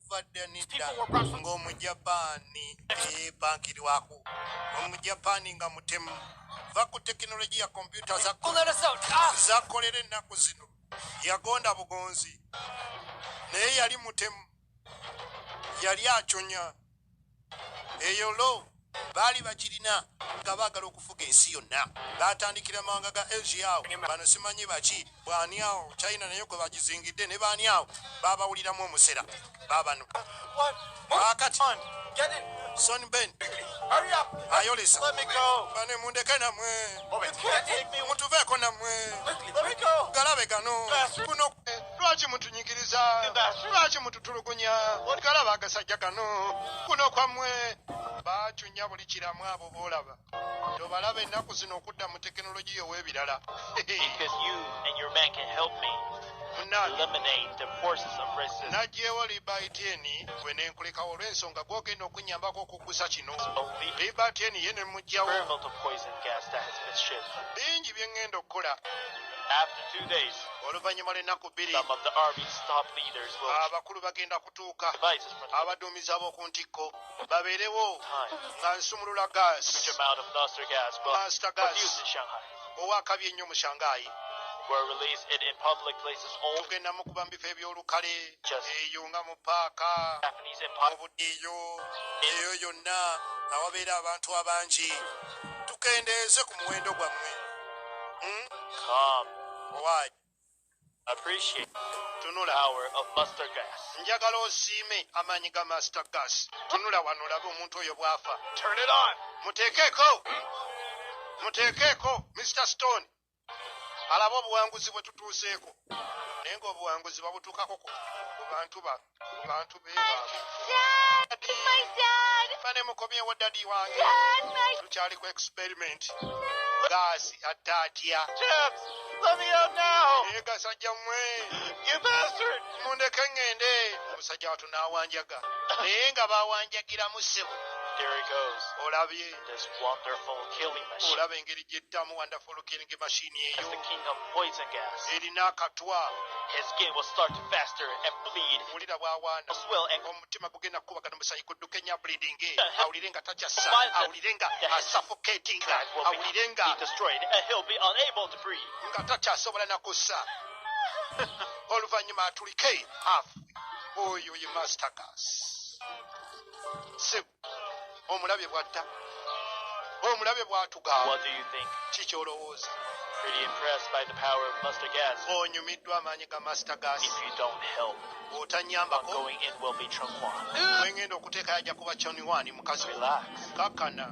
okuva dda nedda ng'omujapaani eyeepankirirwako omujapaani nga mutemu va ku tekinologiya kompyuta zakolera ennaku zino yagonda bugonzi naye yali mutemu yali aconya eyo lo baali bagirina nga baagala okufuga ensi yonna baatandikira mawanga ga asia awo bano simanyi baki bwani awo china naye gwe bagizingidde ne baani awo baabawuliramu omusera baabano wakati son ben ayolesa bane mundeke namwe mutuveeko namwe galabe gano kuno lwaki mutunyigiriza lwaki mututulugunya galaba agasajja kano kuno kwammwe bacunya buli kiramu abo boolaba tobalaba ennaku zino okudda mu tekinologiya ow'ebirala najjeewo libaitieni gwe nenkulekawo olw'ensonga gwogenda okunyambako okuggusa kino libaitieni ye ne mujjawo bingi bye ŋŋenda okukola oluvannyuma lw'ennaku bbiri abakulu bagenda kutuuka abaduumizi ab'oku ntikko babeerewo nga nsumulula gaasita gaasi owakabi ennyo mu shanghai tugenda mukuba mu bifo eby'olukale eyo nga mu paaka obudiiyo eyo yonna awabeera abantu abangi tukendeeze ku muwendo gwammwe Hmm? Um, Why? Appreciate tunula hour of master gas. Njagala osiime amaanyi ga master gas. Tunula wano olabe omuntu oyo bw'afa. Turn it on. Muteekeeko. Muteekeeko Mr Stone. Alaba obuwanguzi bwe tutuuseeko. Naye ng'obuwanguzi babutuukako ku bantu bano. bantu be bane mukomyewo dadi wange tukyali ku experiment gaasi atte atya naye gasajja mwe mundeke ŋŋende omusajja watu n'awanjaga naye nga bawanjagiramu ssebo olabye olaba engeri gyettamu wonderful Olukinga emashini eyo erina akatwa wulira bwawaana omutima gugenda kukubagana omusayi gudduka enya bleedinge awulire nga takyassa awulire nga asuffocatinga awulire nga nga takyasobola nakussa oluvannyuma atulike afu oyo ye mastergas omulabye bwatta omulabye bwatuga kiki olowooza onyumiddwa amaanyi ga master gas otanyambako wengenda okuteeka yajja kuba choniwani mukazi kakana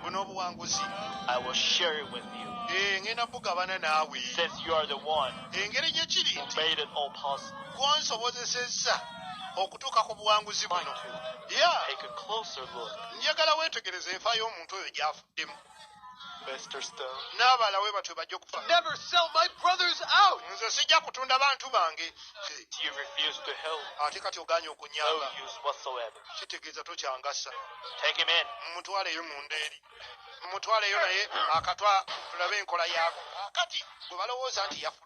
buno obuwanguzi eh, ngenda bugabana naawe engeri gyekiri nti gwansobozesezza okutuuka ku buwanguzi buno ya njagala weetegereza enfa y'omuntu oyo gyafuddemu n'abala we batwe bajja okufa nze sijja kutunda bantu bange ate kati oganye okunyamba kitegeeza tokyangasa mumutwaleyo munda eri mumutwaleyo naye akatwa tulabe enkola yaako kati gwe balowooza nti yafu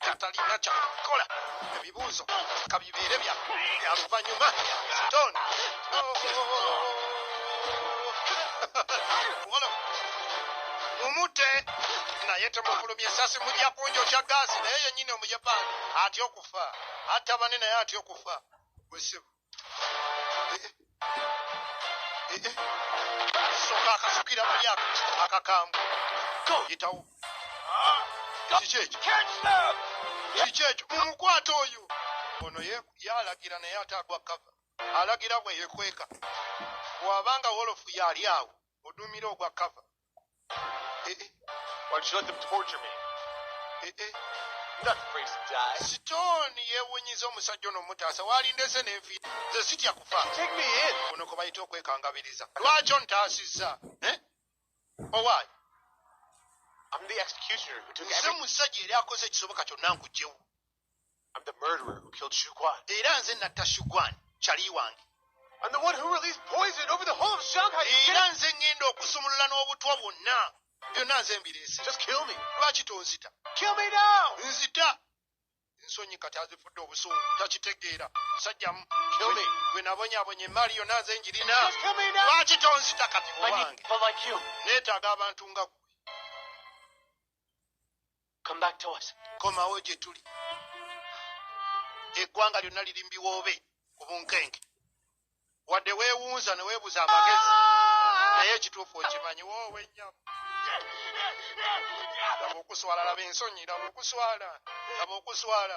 atalina kyakukola ebibuuzo kabibeere bya luvanyuma stone mumute naye temufulumya esasi mujja kunjo kya gaasi naye yenyini omuyapani atya okufa atta bane naye atya okufa wesibu soka akasukira mu myaka akakambwe yitawo kiki ekyo kiki ekyo mumukwata oyo ono yalagira naye ate agwa kava alagira bwe yekweka bwabanga wolofu yali awo odumira ogwa kava Eh, eh. Why did you let them torture me? Eh, eh. I'm not afraid to die. Stone yewunyiza omusajja ono omutaasa waalindese n'enfi nze sitya kufa Take me in. kuno kwe bayita okwekangabiriza lwaki ontaasizza eh? owaayi I'm the executioner who took nze everything. musajja yali akoze ekisoboka kyonna nkugyewo I'm the murderer who killed Shuguan. Era nze natta Shuguan, chali wange. I'm the one who released poison over the whole of Shanghai. Era nze ngenda okusumulula n'obutwa bwonna. Byonna nze mbireese. Just kill me. Lwaki tonzita? Kill me now. Nzita. Nsonyi kati azifudde obusungu. Takitegeera. Musajja mu. Kill me. Gwe nabonyabonya emmaali yonna nze njirina. Just kill me now. Lwaki tonzita kati owange? Neetaaga abantu nga gwe. Come back to us. komawo gye tuli eggwanga lyonna liri mu biwoobe ku bunkenke wadde weewunza ne weebuza amagezi naye ekituufu okimanyi woowe nnyabo laba okuswala laba ensonyi laba okuswala laba okuswala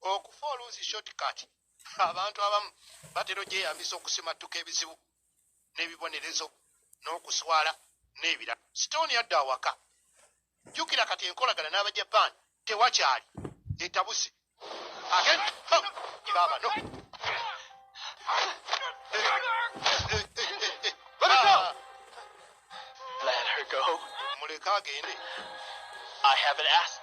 Okufa oluusi shortcut abantu abamu batera ogyeyambisa okusimattuka ebizibu n'ebibonerezo n'okuswala n'ebira. Sitooni adda awaka. Jjukira kati enkolagana n'Abajapan tewakyali etabuse. Agenda baaba no. Let her go. Muleke agende. I haven't asked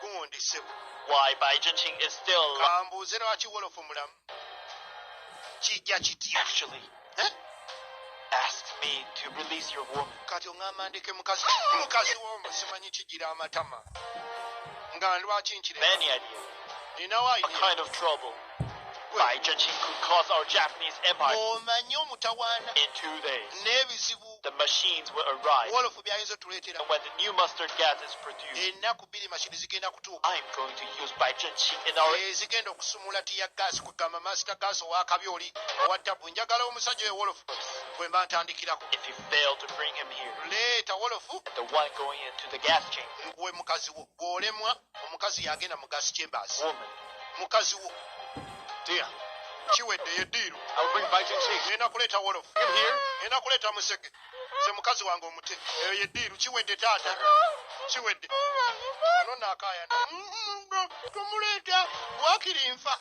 you. Gundi sebo. Why Bai Jinqing is still alive. Kambuuze lwaki Wolofu mulamu. Kijja kitya. Actually. Eh? Ask me to release your woman. Kati ongamba ndeke mukazi mukazi womba simanyi kijira amatama. Nga lwaki nkire. Many ideas. Ninawa idea. A kind of trouble. by Jachiku cause our Japanese empire omanyi omutawaana in two days n'ebizibu the machines will arrive wolofu byayinza otuleetera and when the new mustard gas is produced ennaku bbiri mashini zigenda kutuuka I'm going to use by Jachi in our ezigenda eh, okusumula tiya gas kugamba master gas owakabi oli owa tabu njagala omusajja oyo wolofu bwe mba ntandikirako if you fail to bring him here leeta wolofu the one going into the gas chamber gwe mukazi wo gwolemwa omukazi yagenda mu gas chambers mukazi wo dear kiwedde ye diiru ena kuleeta wolof ena kuleeta musege nze mukazi wange omute eyo ye diiru kiwedde taata kiwedde ono naakayana tomuleeta wakiri nfa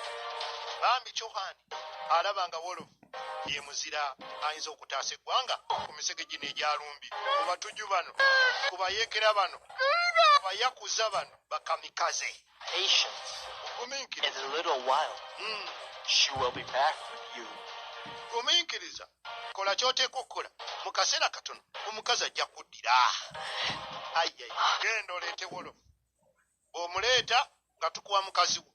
bambi cohani alaba nga wolofu ye muzira ayinza okutaasa eggwanga ku misege gino egyalumbi ku batuju bano ku bayeekera bano ku bayakuza bano bakamikaze gumiikiriza hmm. kola kyoteeka okukola mu kaseera katono omukazi ajja kuddira genda oleete wolofu omuleeta nga tukuwa mukazi wo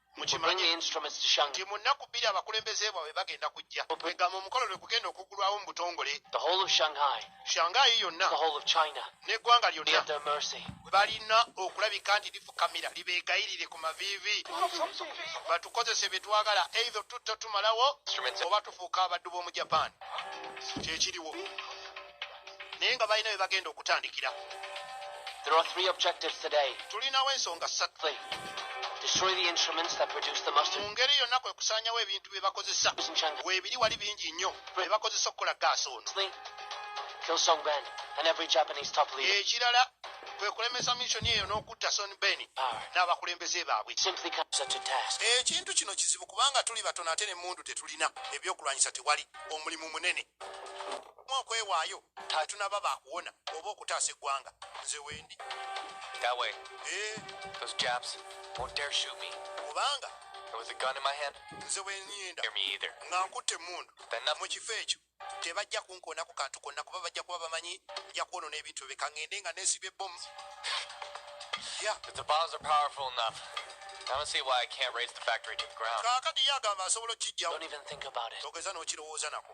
mukimanyi nti mu nnaku bbiri abakulembeze bwabwe bagenda kujja egamba omukolo lwe kugenda okuggulwawo mu butongole shangayi yonna n'eggwanga lyonna balina okulabika nti lifukamira libeegayirire ku maviivi batukozese bye twagala eitho tutta tumalawo oba tufuuka abaddu b'omu japan kyekiriwo naye nga balina bye bagenda okutandikira tulinawo ensonga ssatu mu ngeri yonna kwe kusaanyawo ebintu bye bakozesa weebiri wali bingi nnyo bye bakozesa okukola gaasi ono ekirala kwe kulemesa misioni eyo n'okutta son ben n'abakulembeze baabwe ekintu kino kizibu kubanga tuli batono ate ne mundu tetulina ebyokulwanyisa tewali omulimu munene mu okwewaayo tetunaba baakuwona oba okutaasa eggwanga nze wendi kubanga nze wenyinda nga nkutte emmundu mu kifo ekyo tebajja kunkoona ku kantu konna kuba bajja kuba bamanyi nja kwonona ebintu bye kangende nga nesiba ebbomu kaakati ye agamba asobola okukijjawo ogeza n'okirowooza nako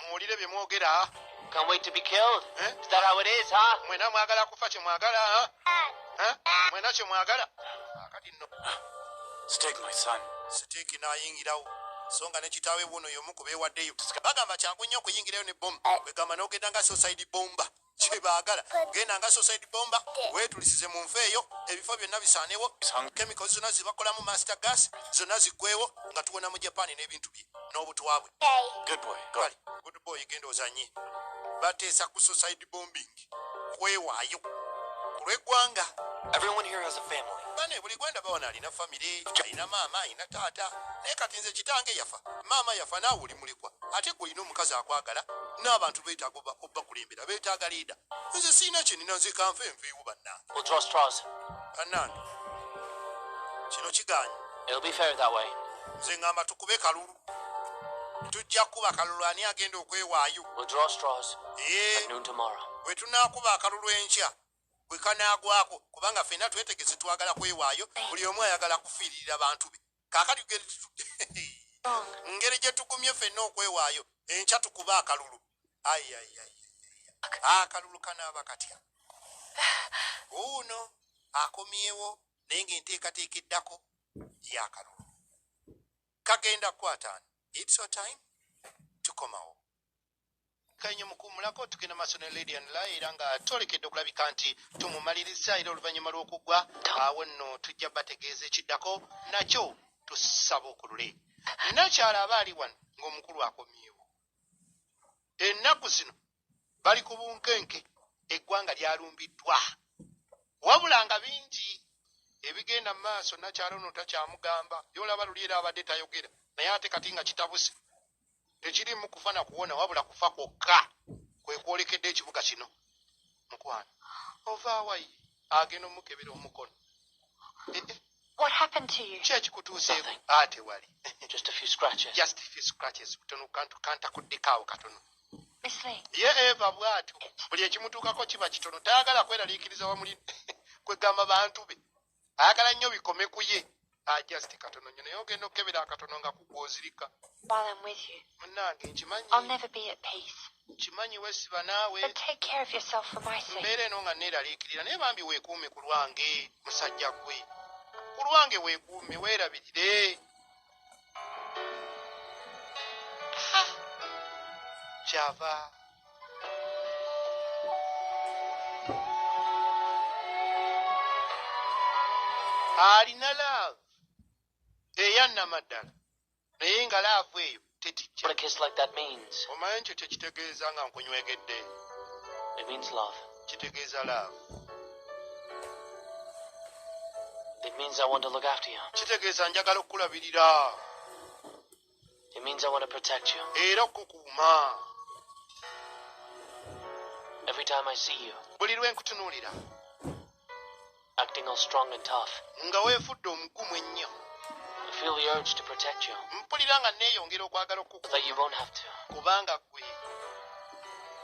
muwulire bye mwogera eh? mwena mwagala kufa kye mwagala eh? mwena kye mwagala akati no siteeki n'ayingirawo so nga ne kitaawe wuuno y'omu ku beewaddeyo bagamba kyangu nnyo okuyingirayo ne bomu kwegamba n'ogenda nga sosaidi bomba kyebaagala genda nga society bomba wetulisize mu nfa eyo ebifo byonna bisaanewo chemicals zonna zibakolamu master gas zonna ziggwewo nga tuwona mu japan n'ebintu bye n'obutwa bwe good boy genda ozanye bateesa ku society bombing kwewaayo ku lw'eggwanga bane buli gwenda bawana alina famire alina maama alina taata naye kati nze kitange yafa maama yafa naawulimu mulekwa ate gwe olina omukazi akwagala n'abantu beetaaga obakulembera beetaaga leeda nze sirina kyenina nze kanfe nveewo bannange bannange kino kiganye nze ngamba tukube kalulu tujja kukuba kalulu ani agenda okwewaayo bwe tunaakuba akalulu enkya bwe kanaagwako kubanga ffenna twetegese twagala kwewaayo buli omu ayagala kufiirira bantu be kakati geri tutude ngeri gyetugumye fenna okwewaayo enkya tukuba akalulu ayayay akalulu kanaaba katya uuno akomyewo naye nga enteekateeka eddako yakalulu kagenda kukwataani its your time tukomawo kanye mukuumulako tugenda maaso ne lady and lie era nga twolekedde okulabika nti tumumalirizza era oluvannyuma lw'okuggwa awo nno tujja bategeeza ekiddako nakyo tusaba okulule nakyala aba ali wano ng'omukulu akomyewo ennaku zino bali ku bunkenke eggwanga lyalumbiddwa wabula nga bingi ebigenda mu maaso nakyala ono takyamugamba byolaba luli era abadde tayogera naye ate kati nga kitabuse tekirimu kufa na kuwona wabula kufa kwokka kwe kwolekedde ekibuga kino mukwano ovaawayi agenda omukebera omukono eh, eh. kyekikutuuseeko ate wali kantakuddikaawo katono ye eva bwatyo buli ekimutuukako kiba kitono tayagala kweraliikiriza wamuli kwegamba bantu be ayagala nnyo bikome ku ye ajust ah, katono nyo naye ogenda okukebera akatono nga kugwozirika munange nkimanyi nkimanyi wesiba naawe mbeera eno nga neeraliikirira naye bambi weekuume ku lwange musajja gwe ku lwange weekuume weerabirire Java. alina laavu eyannamaddala naye nga laavu eyo tetijjaomanyi nti tekitegeeza nga nkunywegedde kitegeeza laavu kitegeeza njagala okukulabirira era okukuuma buli lwe nkutunuulira Acting all strong and tough. Nga wefudde omugumu ennyo. I feel the urge to protect you. Mpulira nga neeyongera okwagala okukuuma. But you won't have to. Kubanga ggwe.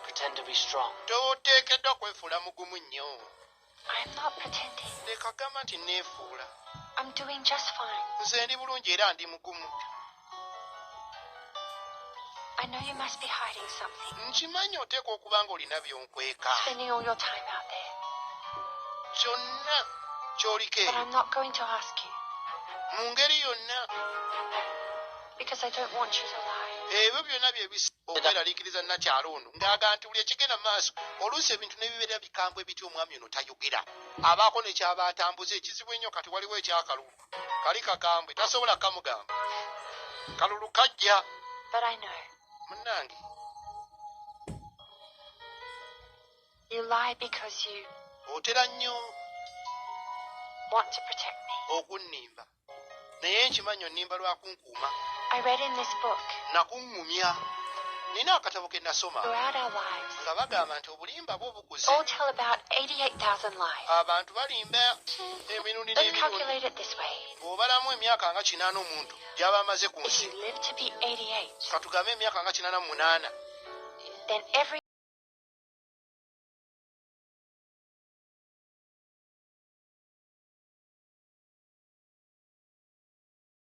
Pretend to be strong. Toteekeddwa kwefuula mugumu nnyo. I'm not pretending. Leka gamba nti neefuula. I'm doing just fine. Nze ndi bulungi era ndi mugumu. nkimanyi oteekwa okuba ng'olina byonkweka kyonna kyoliko eyo mu ngeri yonna ebyo byonna byebiokweralikiriza nakyalo ono ngaaga nti buli ekigenda mu maaso oluusi ebintu nebibeera bikambwe bitya omwami ono tayogera abaako nekyaba atambuza ekizibu ennyo kati waliwo ekyakalulu kali kakambwe tasobola kamugamba kalulu kajja munange otera nnyo okunnimba naye nkimanyi onnimba lwakunku Uma. I read in this book. Nakuŋŋumya. Nina akatabo ke nasoma. Throughout our lives. Nga bagamba nti obulimba bwo bukuze. All tell about 88,000 lies. Abantu balimba emirundi n'emirundi. Let's calculate it this way. Bw'obalamu emyaka nga kinaana omuntu gy'aba amaze ku nsi. If you live to be 88. Katugambe emyaka nga kinaana mu munaana. Then every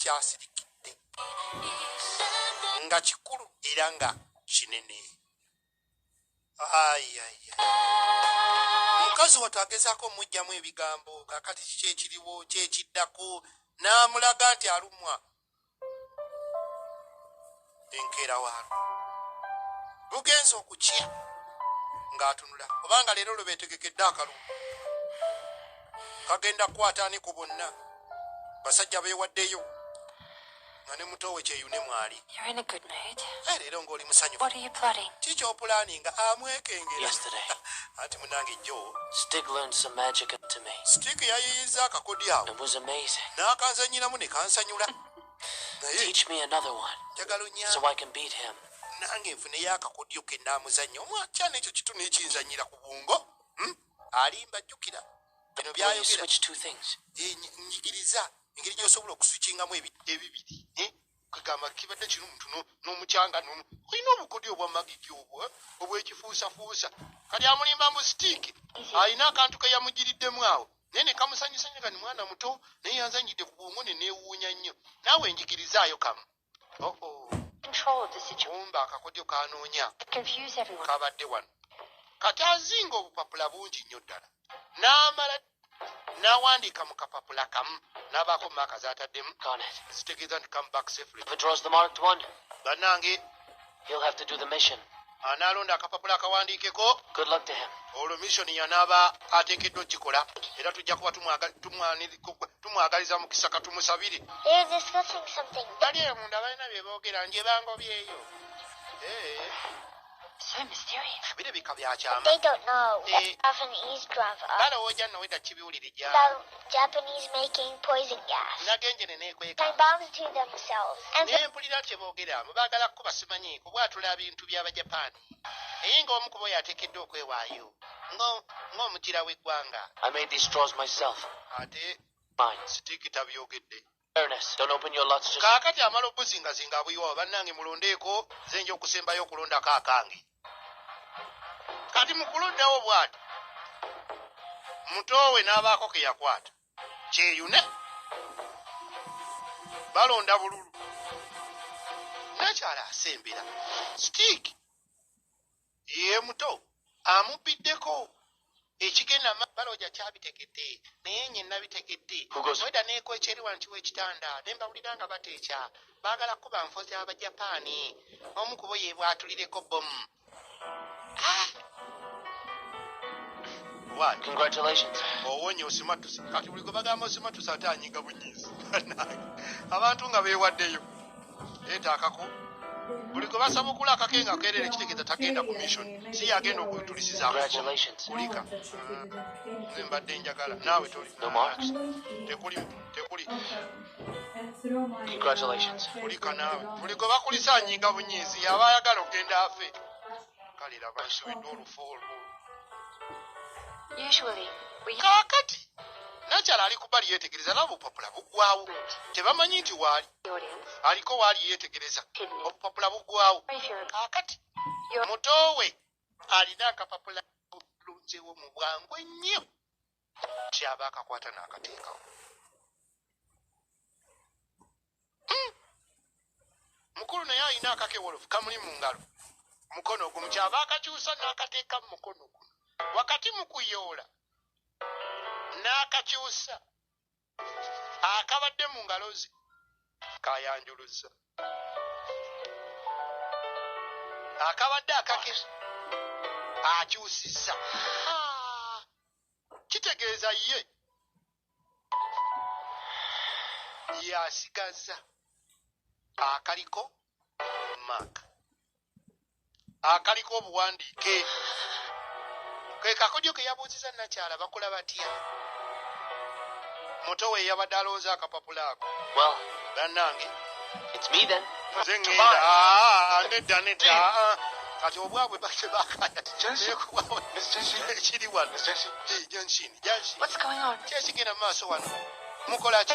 kyasirikidde nga kikulu era nga kinene ayaya mukazi watu agezaako omujjamu ebigambo kakati kiki ekiriwo kyekiddako n'amulaga nti alumwa enkeera waalwo lugenze okukya ng'atunula kubanga leero lwe beetegekedde akalulu kagenda kukwataani ku bonna basajja beewaddeyo nga ne muto we kyeyune mwali eh, leero ng'oli musanyuki kyopulaani nga amwekengera anti munange jjo stik yayiyiza akakodi awo n'akanzanyiramu ne kansanyula Teach me another one so I can beat him. nange nfuneyo akakodyo ke naamuzannya omwakyana ekyo kitu nekinzanyira ku bwongo hmm? alimba jjukira bino byayogeranyigiriza engeri gyosobola okusukingamu ebibiri eh? kagamba kibadde kino omuntu n'omukyanga nono olina obukodyo obwamagiki obwo eh? obwekifuusafuusa kali amulimba mu sitiiki alina akantu keyamugiriddemu awo naye nekamusanyusa nyo kani mwana muto naye yanzanyidde ku bwongo ne neewuunya nnyo naawe njigirizaayo kamu oh, oh. omba akakodyo kanoonya kabadde wano kati azinga obupapula bungi nnyo ddala n'amala n'awandiika mu kapapula kamu n'abaako maaka z'ataddemu zitegeeza nti come back safely banange He'll have to do the mission. anaalonda akapapula akawandiikeko olwo misoni yanaaba ateekeddwa okukikola era tujja kuba tumwagaliza mukisa katumusabire bali eyo munda balina bye boogera nje bango byeyo eh. birabika byakyama eh. balowooja noweda kibiwulire gyali Japanese making poison gas. Nagenjene nekweka. Time bombs to themselves. And ne mpulira kye boogera mu baagala kukuba simanyi kubwatula bintu by'Abajapani. Naye nga omu kubo yateekeddwa okwewaayo ng'omugira w'eggwanga. I made these straws myself. Ate sitiikita byogedde. kaakati amala okubuzingazinga abuyiwawo bannange mulondeeko nze nja okusembayo okulondako akange kati mukulondawo bwati mutoowe n'abaako ke yakwata kyeyune balonda bululu nakyala asembera sitiiki ye muto amubbiddeko ekigenda mabbala oja kyabitegedde naye nye nabitegedde weda nekwekyeri wanti wekitanda ne mbawulira nga bateekya baagala kuba nfozi abajapaani omu kubo yebwatulireko bomu ah! owonye osimatuse kati buli gwe bagamba osimatuse ate anyiga bunyiizi abantu nga bewaddeyo leeta akako buli gwe basaba okula akake nga kerere kitegeeza tagenda ku mission si yagenda okutulisiza kulika nze mbadde njagala naawe toli tekuli tekuli kulika naawe buli gwe bakulisa anyinga bunyiizi yaba ayagala okugenda afe kale laba nsubiddwa olufu olwo kakati nakyala ali kubali yetegereza nabo bupapula bugwawo tebamanyi nti waali aliko waali yeetegereza obupapula bugwawo kakati muto we alina akapapula bulunzewo mu bwangu ennyo kyaba akakwata n'akateekawo hmm. mukulu naye alina akakewolofu kamuli mu ngalo mukono ogumu kyaba akakyusa n'akateeka mu mukono guno wakati mu kuyoola n'akakyusa akabadde mu ngalo ze kayanjuluzza akabadde akakiri akyusizza kitegeeza ye yasigazza akaliko maaka akaliko obuwandiike ke kakodyo ke yabuuziza nakyala bakola batya muto we yabadde alowooza akapapula ako bannange nze ŋŋenda nedda nedda kati obwabwe bakye bakayakiri wano janshini janshini kyekigenda mu maaso wano mukola ki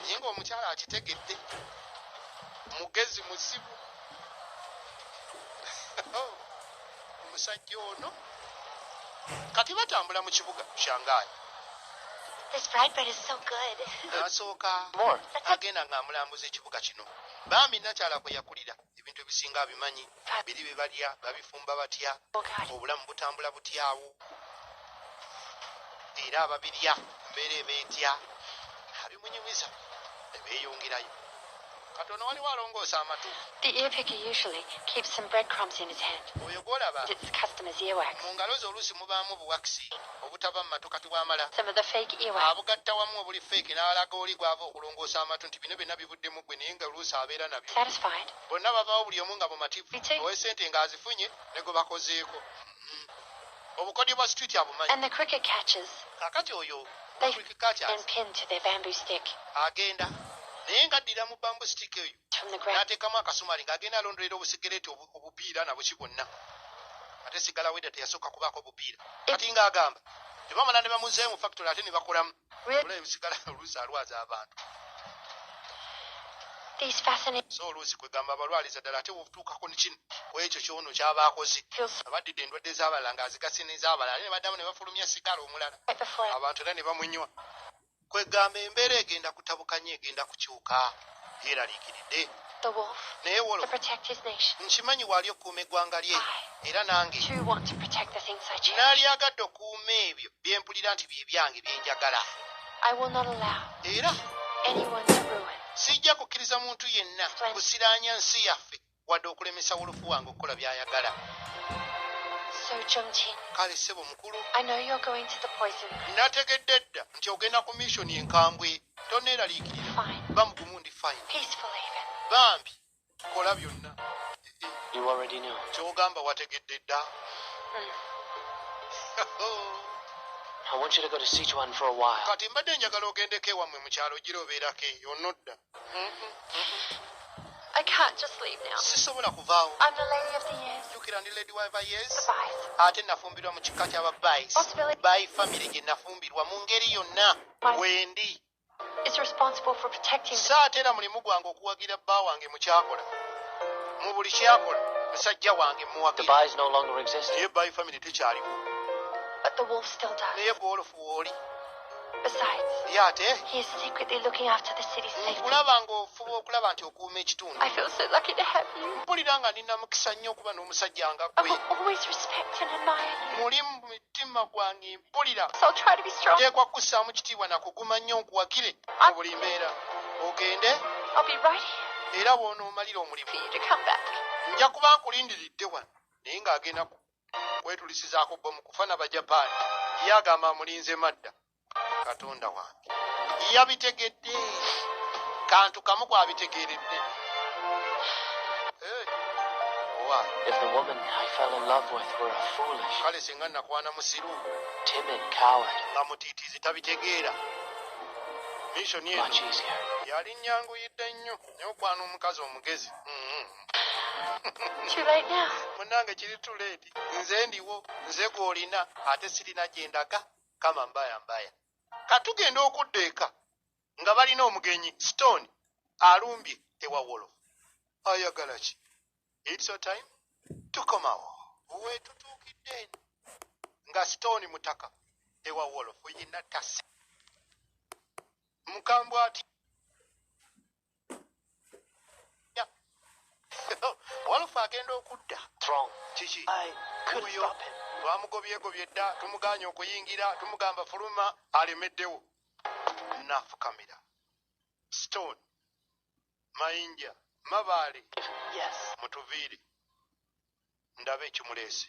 naye ngaomukyala akitegedde mugezi muzibu oh, omusajja ono kati batambula mu kibuga shangayi nasooka agenda ng'amulambuza ekibuga kino bambi nakyala kwe yakulira Ebintu ebisinga abimanyi. Biri bye balya, babifumba batya, obulamu butambula butya awo, era ababirya mu mbeera eba etya, abimunyumiza ne beeyongerayo. Kati ono waliwo alongoosa amatu. Oyo gw'olaba mu ngalo ze oluusi mubaamu obuwakisi obutava mu matu kati bw'amala abugatta wamu obuli feeke n'alaga oli gw'ava okulongoosa amatu nti bino byonna bibudde. buddemu ggwe naye nga oluusi abeera nabyo bonna bavaawo buli omu nga mumativu owe sente nga azifunye ne gwe bakozeeko mm-hmm. obukodyo bwa street abumanyi kakati oyo agenda naye nga addira mu bambu stick eyo n'ateekamu akasumali ng'agenda alondolera obusigereeti obupiira nabuki bwonna ate sigala weda teyasooka kubaako obupiira kati ng'agamba tebamala ne bamuzeemu factory ate ne bakolamu so oluusi kwegamba abalwaliza ddala ate wobutuukako nikino kwekyo kyono kyaba akoze abaddidde endwadde zabalala nga azigase nezabalala ne baddamu ne bafulumya sigala omulala abantu era ne bamunywa kwegamba embeera egenda kutabukanya egenda kukyuka yeeraliikiridde. Naye Wolof, nkimanyi waali okukuuma eggwanga lye, era nange naalyagadde okuuma ebyo bye mpulira nti bye byange bye njagala. Era sijja kukkiriza muntu yenna kusiraanya nsi yaffe. wadde okulemesa wolofu wange okukola by'ayagala. Kale ssebo mukulu, nategedde dda nti ogenda ku missioni enkambwe. Toneeraliikirira, ba mugumu ndi fine. Bambi, kola byonna. Ky'ogamba wategedde dda? Hmm. Kati mbadde njagala ogendeko ewammwe mu kyalo gira obeerako eyo, onodda. I can't just leave now. Sisobola kuvaawo. I'm the lady of the years. Jukira ndi lady wa years. The Bice. Ate nafumbirwa mu kika kya Bice. Possibility. By family gye nafumbirwa mu ngeri yonna wendi. Is responsible for protecting. Saatera mulimu gwange okuwagira bba wange mu kyakola. Mu buli kyakola musajja wange muwagira. The Bice no longer exist. Ye by family tekyaliwo. But the wolf still does. Naye gwolofu wooli. ye ate nkulaba ng'ofuba okulaba nti okuuma ekitundu mpulira nga nina mukisa nnyo okuba n'omusajja nga gwe muli mu mitima gwange mpulira teekwa kukussaamu kitiibwa na kuguma nnyo nkuwagire mu buli mbeera ogende era bw'onoomalira omulimu nja kuba nkulindiridde wano naye ng'agenda ku kwetulisizaako bbomu kufa na bajapaani ye agamba amulinze madda katonda wange yabitegedde kantu kamu kwabitegeeredde kale singa nakwana musiru nga mutiitiizi tabitegeera misioni eno yali nyanguyidde nnyo nyokwana omukazi omugezi mm-hmm. munange kiri tuledi nze ndiwo nze gwolina ate sirina gyendaga kama mbaya mbaya katugenda okudda eka nga balina omugenyi stone alumbye ewawolo ayagala ki its your time tukomawo wetutuukidde nga stone mutaka ewawolo oyina tasa mukambwe atya walufu agenda okudda kiki oyo twamugobyegobye dda tumuganya okuyingira tumugamba fuluma alemeddewo nafukamira stone mayinja mabaale mutuviire ndaba ekimuleese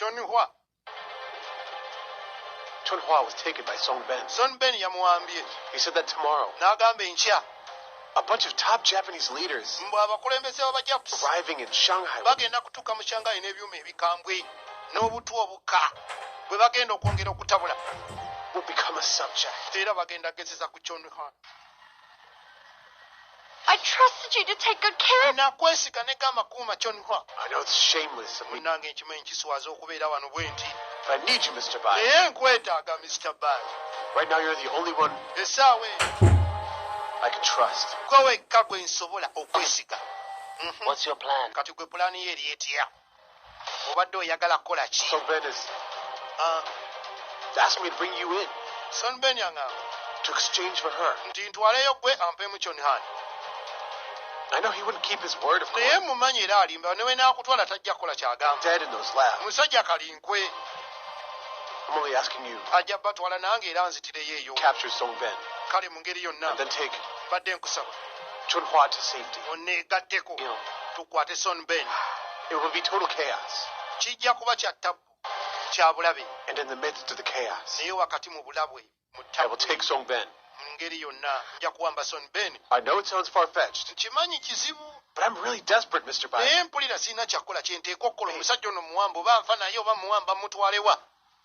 Chun Hua. Chun Hua was taken by Song Ben. Song Ben yamuwambye. He said that tomorrow. N'agamba enkya. A bunch of top Japanese leaders mbu abakulembeze b'abajapusi arriving in Shanghai bagenda kutuuka mu Shanghai n'ebyuma ebikambwe n'obutwa obukka bwe bagenda okwongera okutabula will become a subject era bagenda gezeza ku Chun Hua. I trusted you to take good care of nakwesiga ne gamba kuuma kyonwa I know it's shameless of me munange nkimanyi kiswaza okubeera wano bwe nti But I need you Mr. Bai naye nkwetaaga Mr. Bai Right now you're the only one esaawa eyo I can trust gwe wekka gwe nsobola okwesiga Mhm. What's your plan? kati gwe pulaani yo eri etya obadde oyagala kukola ki ah. sonben aŋamba nti ntwaleyo gwe ampemu kyonhan naye mumanyi era alimba newe nakutwala tajja kukola kyagamba musajja kalinkwe ajja batwala nange era nzitireyo eyo kale mu ngeri yonna mbadde nkusaba munneegatteko tukwate son ben kijja kuba kya ttabbu kya bulabe naye wakati mu bulabwe mu ttabu mu ngeri yonna nja kuwamba son ben nkimanyi kizibu But I'm really desperate, Mr. Biden. Naye mpulira sirina kyakukola kye nteeka okukola omusajja ono muwamba oba nfa naye oba muwamba mutwalewa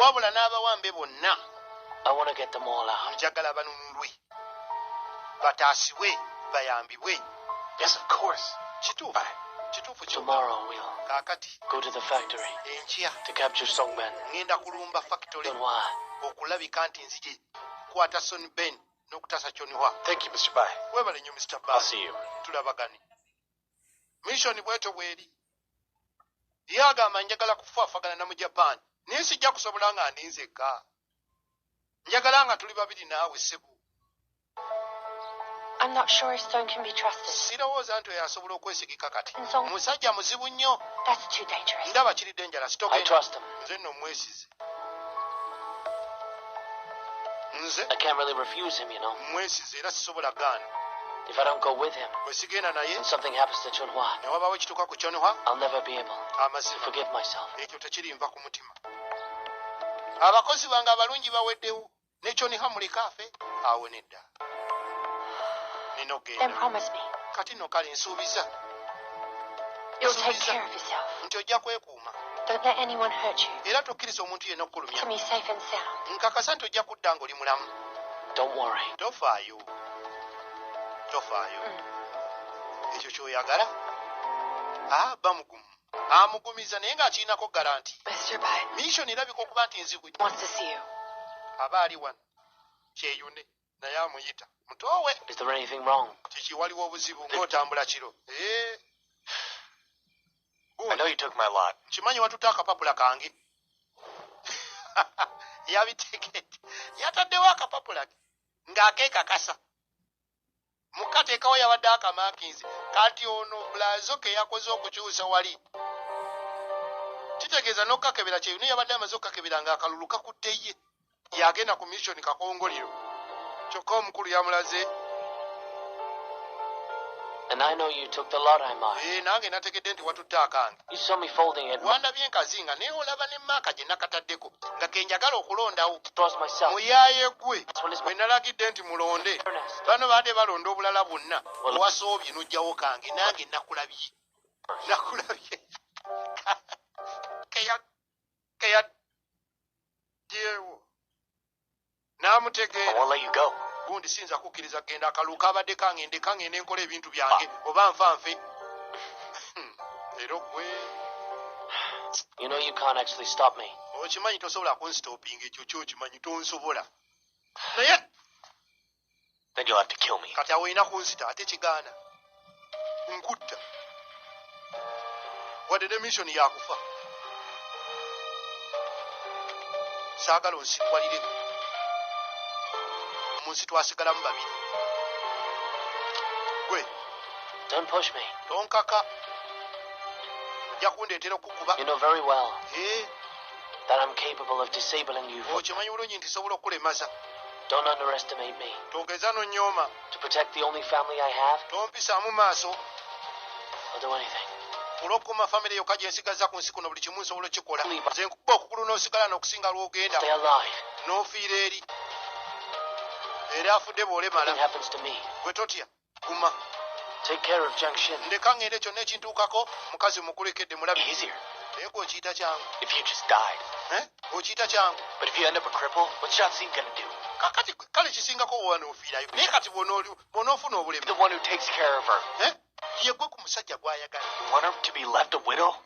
wabula n'abawambe bonna njagala banunulwe bataasibwe bayambibwe kituufu kituufu kakati enkya ŋŋenda kulumba fakitole okulabika nti nzije kwata son ben n'okutaasa kyoniwa webale nnyo mr ba tulabagane mission bwetyo bweri ye agamba njagala kufaafagana na mu japan naye sijja kusobola nga ndi nzekka njagala nga tuli babiri naawe sebo sirowooza nti oyo asobola okwesigika kati musajja muzibu nnyo ndaba kiri denjala sitoke nze nno omwesize nze I can't really refuse him, you know. mwesize era sisobola gaana If I don't go with him, bwe sigenda naye and something happens to Chunhua, ne wabaawo ekituuka ku kyonhwa I'll never be able to amazima forgive myself. ekyo tekirimba ku mutima abakozi bange abalungi baweddewo nekyoniha muleka afe awo nedda kati no kale nsuubiza nti ojja kwekuuma era tokkiriza omuntu yena okukulumya nkakasa nti ojja kudda nga oli mulamu tofaayo tofaayo mm. ekyo kyoyagala aba ah, mugumu Amugumizza naye ng'akirinako garanti. Miisoni erabika okuba nti nzibu. Aba ali wano. Kyeyune naye amuyita. Mutoowe. Kiki waliwo obuzibu ng'otambula kiro. Eh. Nkimanyi watutte akapapula kange. Yabiteekete. Yataddewo akapapula ke ng'akeekakasa. mukateekawo yabadde akamakinzi kati ono blazo ke yakoze okukyusa wali kitegeeza n'okukakebera kyeyo naye yabadde amaze okukakebera nga akalulu kakudde ye yagenda ku mission kakongoliro kyokka omukulu yamulaze eh, nange nategedde nti watutte akange wandabye nkazinga naye olaba ne maaka gye nakataddeko nga kenjagala okulondawo muyaaye gwe bwe nalagidde nti mulonde bano baadde balonda obulala bwonna owasoobye n'ojjawo kange nange nakulabye nakulabye keyadyewo n'amutegeera gundi siyinza kukkiriza kugenda akalulu kabadde kangende kangende nkola ebintu byange ah. oba nfa nfe hmm. era ogwe okimanyi tosobola kunstopinga ekyo kyokimanyi tonsobola naye Then you'll have to kill me. Kati awo olina kunzita ate kigaana nkutta wadde ne missioni yakufa saagala onsikwalire mu nsi twasigalamu babiri gwe Don't push me. tonkaka ojja kundeetera okukuba You know very well Eh, that I'm capable of disabling you for okimanyi bulungi nti sobola okukulemaza Don't underestimate me. Togeza no nyoma. To protect the only family I have. Don't be samu maso. I'll do anything. Kulokuma family yo kaje nsigaza ku nsiku no buli kimu nsobola kikola. Nze nkuba okukulu no sigala no kusinga lwo genda. Stay alive. No fear eri. Era afude bole mala. What happens to me? Gwe totya. guma take care of junction ndeka ngende kyonna ekintuukako mukazi mukulekedde mulabi easier naye gwe okiyita kyangu if you just died eh? okiyita kyangu but if you end up a cripple what john cena gonna do kakati kale kisingako wewanofiirayo naye kati bwonoofuna obulemu the one who takes care of her eh? yegwe ku musajja gwayagala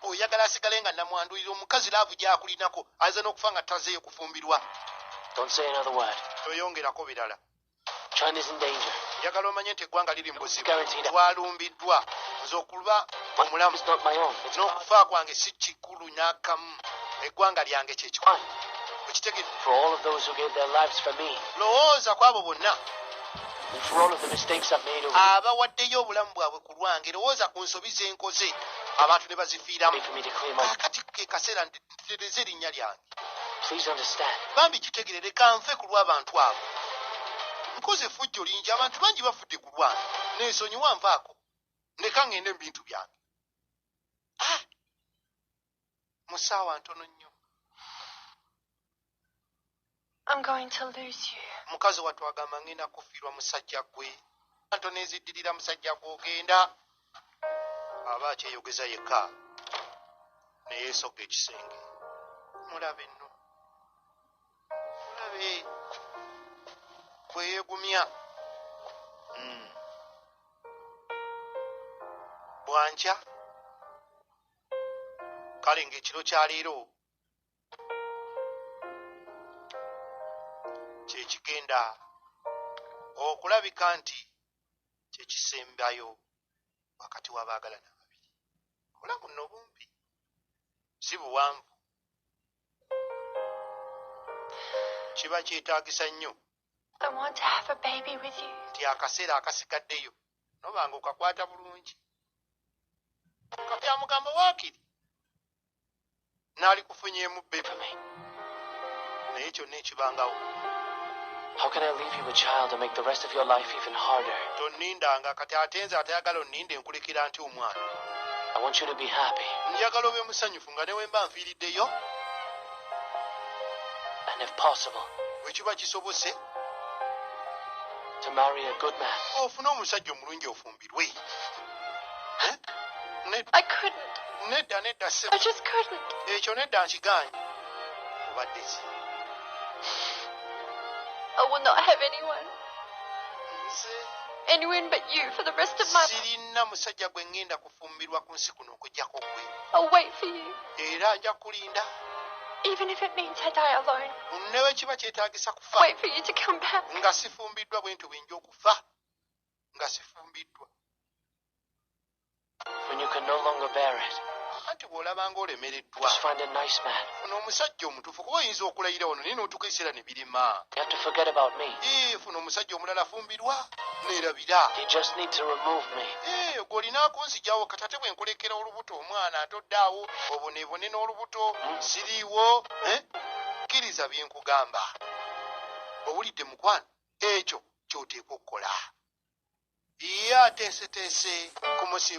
oyagala asigale nga namwandulira omukazi laavu gyakulinako aza n'okufa nga tazeeyo kufumbirwa toyongerako birala njagala omanye nti eggwanga liri mubuzibu twalumbiddwa nze okuba omulamu n'okufa kwange si kikulu n'akamu eggwanga lyange kyekikulu okitegedde lowooza ku abo bonna abawaddeyo obulamu bwabwe ku lwange lowooza ku nsobi ze nkoze abantu ne bazifiiramu kati ke kaseera ndidde ntereeza erinnya lyange bambi kitegerere kanfe ku lw'abantu abo nkoze effujjo lingi abantu bangi bafudde ku lwange nensonyiwa nvaako ndeka ngende mu bintu byange ah! mu ssaawa ntono nnyo I'm going to lose you. mukazi wattu agamba ngenda kufiirwa musajja gwe anto neziddirira musajja gwe ogenda aba akyeyogeza yekka neyeesogga ekisenge mulabe nno mulabe bweyegumya hmm. bwankya kale ng'ekiro kya leero kyekigenda okulabika nti kyekisembayo wakati wabaagalana babiri obulamu no bumpi si buwanvu kiba kyetagisa nnyo nti akaseera akasigaddeyo nobanga okakwata bulungi kabyamugamba wakiri nalikufunyeemu bebe naye kyonna ekibangawo tonnindanga kati ate nze atayagala onninde nkulekera nti omwana njagala obe musanyufu nga newemba nfiiriddeyo wekiba kisobose ofune omusajja omulungi ofumbi we eh? nedda nedda ekyo nedda nkigaanyi obadde ki I will not have anyone. Anyone but you for the rest of my life. Sirina musajja gwe ngenda kufumbirwa ku nsi kuno okujjako gwe. I'll wait for you. Era nja kulinda. Even if it means I die alone. Newe kiba kyetaagisa kufa. Wait for you to come back. Nga sifumbiddwa bwe nti bwenja okufa. nga sifumbiddwa anti bw'olaba nga olemereddwa funa omusajja omutuufu kuba oyinza okulayira wano naye n'otuuka ekiseera ne birema funa omusajja omulala afumbirwa neerabira gw'olina akunzijawo kati ate bwe nkulekera olubuto omwana atoddaawo obonebone n'olubuto hmm. siriiwo eh? kkiriza bye nkugamba owulidde mukwano ekyo ky'oteekwa okukola. Ye ateeseteese kumusiibula.